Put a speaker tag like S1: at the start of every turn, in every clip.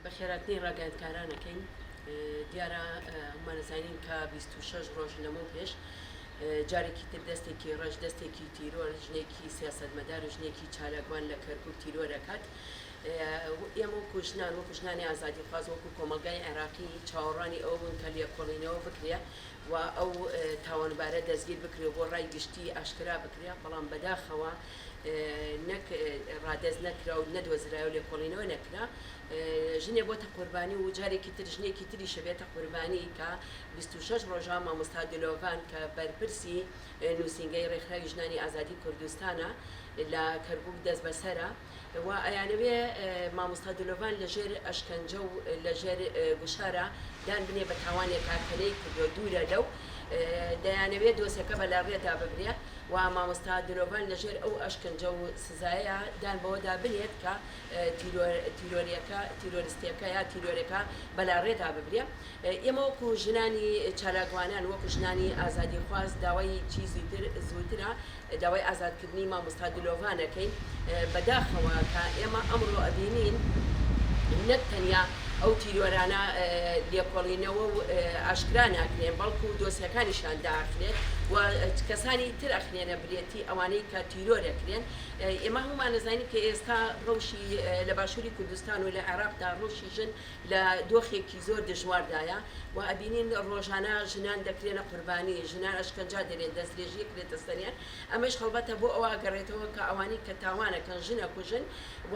S1: بە خێراتنی ڕاگەیاندکارانەکەی دیارە هەموومان ئەزانین کە بیست و شەش ڕۆژ لەمەو پێش جارێکی تر دەستێکی ڕەش دەستێکی تیرۆر ژنێکی سیاسەتمەدار و ژنێکی چالاکوان لە کەرکوک تیرۆر ئەکات ئێمە وەکو ژنان وەکو ژنانی ئازادی خواز وەکو کۆمەلگای عێراقی چاوەڕانی ئەو بوون کە لێکۆڵینەوە بکرێ و ئەو تاوانبارە دەستگیر بکرێ بۆ ڕای گشتی ئاشکرا بکرێ بەڵام بەداخەوە نەک ڕادەست نەکرا و نەدۆزرا و لێکۆڵینەوە نەکرا ژنێ بۆتە قوربانی و جارێکی تر ژنێکی تری شەبێتە قوربانی کە 26 ڕۆژە مامۆستا دلۆڤان کە بەرپرسی نووسینگەی ڕێکخراوی ژنانی ئازادی کوردستانە لە کەرکوک دەستبەسەرە و ئەیانەوێ مامۆستا دلۆڤان لەژێر ئەشکەنجە و لەژێر گوشارە دان بنێ بە تاوانێکا کە نەیکردووە دوورە لەو دەیانەوێ دۆسێکە بە لاڕێدا ببرێ و مامۆستا دلۆڤان لە ژێر ئەو ئەشکەنجە و سزایە دان بەوەدا بنێت کە تیرۆریەکە تیرۆریستیەکە یا تیرۆرەکە بە لاڕێدا ببرێ ئێمە وەکو ژنانی چالاکوانان وەکو ژنانی ئازادی خواست داوای چی زووتر زووترە داوای ئازادکردنی مامۆستا دلۆڤان ئەکەین، بەداخەوە کە ئێمە ئەمڕۆ ئەبینین نەک تەنیا ئەو تیرۆرانە لێکۆڵینەوە و ئاشکرا ناکرێن بەڵکو دۆسیەکانیشیان داخرێت و کەسانی تر ئەخرێنە برێتی ئەوانەی کە تیرۆر ئەکرێن ئێمە هەموومان ئەزانین کە ئێستا ڕەوشی لە باشووری کوردستان و لە عێراقدا ڕەوشی ژن لە دۆخێکی زۆر دژواردایە و ئەبینین ڕۆژانە ژنان دەکرێنە قوربانی، ژنان ئەشکەنجا دەرێت، دەسترێژی ئەکرێتە سەریان، ئەمەش هەڵبەتە بۆ ئەوە ئەگەڕێتەوە کە ئەوانەی کە تاوان ئەکەن ژن ئەکوژن و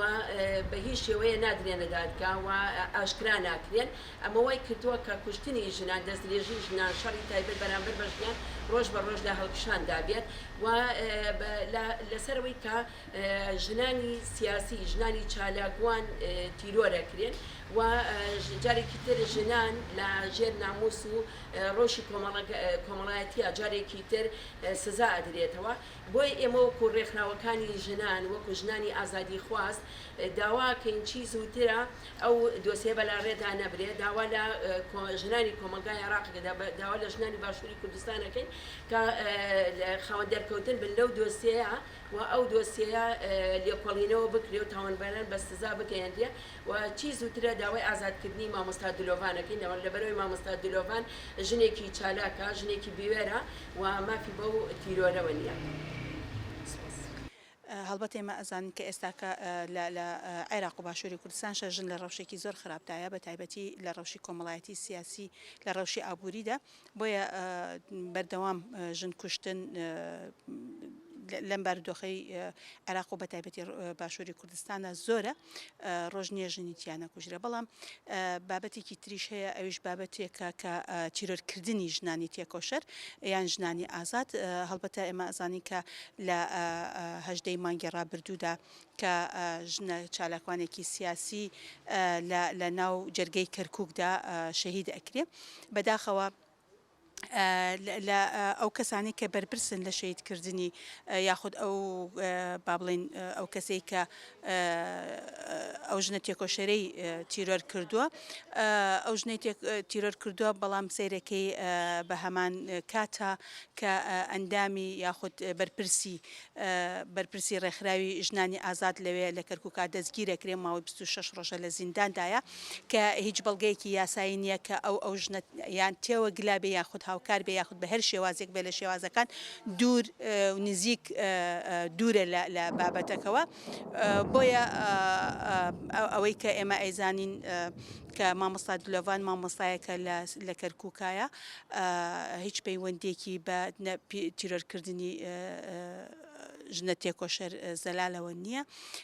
S1: بە هیچ شێوەیە نادرێنە دادگا و ئاشکرا ناکرێن، ئەمە وای کردووە کە کوشتنی ژنان، دەستدرێژی ژنان، شەڕی تایبەت بەرامبەر بە ژنان ڕۆژ بە ڕۆژ لە هەڵکشاندا بێت و لە لەسەر ئەوەی کە. ژنانی سیاسی، ژنانی چالاکوان تیرۆر ئەکرێن و جارێکی تر ژنان لە ژێر ناموس و ڕەوشی کۆمەڵایەتیە جارێکی تر سزا ئەدرێتەوە بۆیە ئێمە وەکو ڕێکخراوەکانی ژنان وەکو ژنانی ئازادی خواز داواکەین چی زووترە ئەو دۆسێ بەلا ڕێدا نەبرێ داوا لە ژنانی کۆمەلگای عێراق داوا لە ژنانی باشووری کوردستانەکەین کە خاوەن دەرکەوتن بن لەو دۆسێە و ئەو دۆسیەیە لێکۆڵینەوە بکرێ و تاوانباران بە سزا بگەیەنرێ و چی زووترە داوای ئازادکردنی مامۆستا دلۆڤان ئەکەین لەبەرئەوەی مامۆستا دلۆڤان ژنێکی چالاکە ژنێکی بوێرە و مافی بەو تیرۆرەوە نییە سپاس.
S2: هەڵبەت ئێمە ئەزانین کە ئێستاکە لە لە عێراق و باشوری کوردستانشە ژن لە ڕەوشێکی زۆر خراپدایە بە تایبەتی لە ڕەوشی کۆمەڵایەتی سیاسی لە ڕەوشی ئابووریدا، بۆیە بەردەوام ژن کوشتن لەم بارودۆخەی عێراق و بەتایبەتی باشووری کوردستانە زۆرە ڕۆژ نییە ژنی تیانە کوژرە بەڵام بابەتێکی تریش هەیە ئەویش بابەتێکە کە تیرۆرکردنی ژنانی تێکۆشەر یان ژنانی ئازاد هەڵبەتە ئێمە ئەزانین کە لە هەژدەی مانگی ڕابردوودا کە ژنە چالاکوانێکی سیاسی لە لە ناو جەرگەی کەرکوکدا شەهید ئەکرێ بەداخەوە لە ئەو کەسانی کە بەرپرسن لە شەیدکردنی یاخود ئەو با بڵین ئەو کەسەی کە ئەو ژنە تێکۆشەرەی تیرۆر کردووە ئەو ژنەی تیرۆر کردووە بەڵام سیرەکەی بە هەمان کاتە کە ئەندامی یاخود بەرپرسی بەرپرسی ڕێکخراوی ژنانی ئازاد لەوێ لە کەرکوکا دەستگیرەکرێ ماوەی بیست و شەش ڕۆژە لە زینداندایە کە هیچ بەڵگەیەکی یاسایی نییە کە ئەو ئەو ژنە یان تێوە گلا بێ یاخود هاوکار بێ یاخود بە هەر شێوازێک بێ لە شێوازەکان دوور و نزیک دوورە لە بابەتەکەوە بۆیە ئەوەی کە ئێمە ئەیزانین کە مامۆستا دلۆڤان مامۆستایەکە لە کەرکوکایە هیچ پەیوەندیەکی بە تیرۆر کردنی ژنە تێکۆشەر زەلالەوە نییە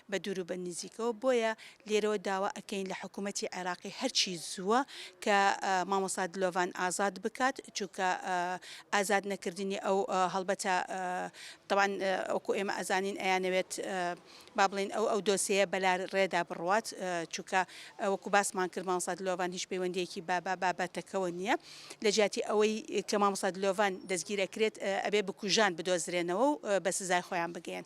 S2: بە دوور و بە نزیکەوە بۆیە لێرەوە داوا ئەکەین لە حکوومەتتی عێراقی هەرچی زووە کە مامۆسا دلۆڤان ئازاد بکات چونکە ئازاد نەکردنی ئەو هەڵبەتە تەوان ئەوکو ئێمە ئەزانین ئەیانەوێت با بڵێین ئەو ئەو دۆسێیە بە لار ڕێدا بڕوات چووکە وەکو باسمان کرد مامۆستا دلۆڤان هیچ پەیوەندیەکی بە بە بابەتەکەەوە نییە لە جیاتی ئەوەی کە مامۆستا دلۆڤان دەستگیر ئەکرێت ئەبێ بکوژان بدۆزرێنەوە و بە سزای خۆیان بگێن.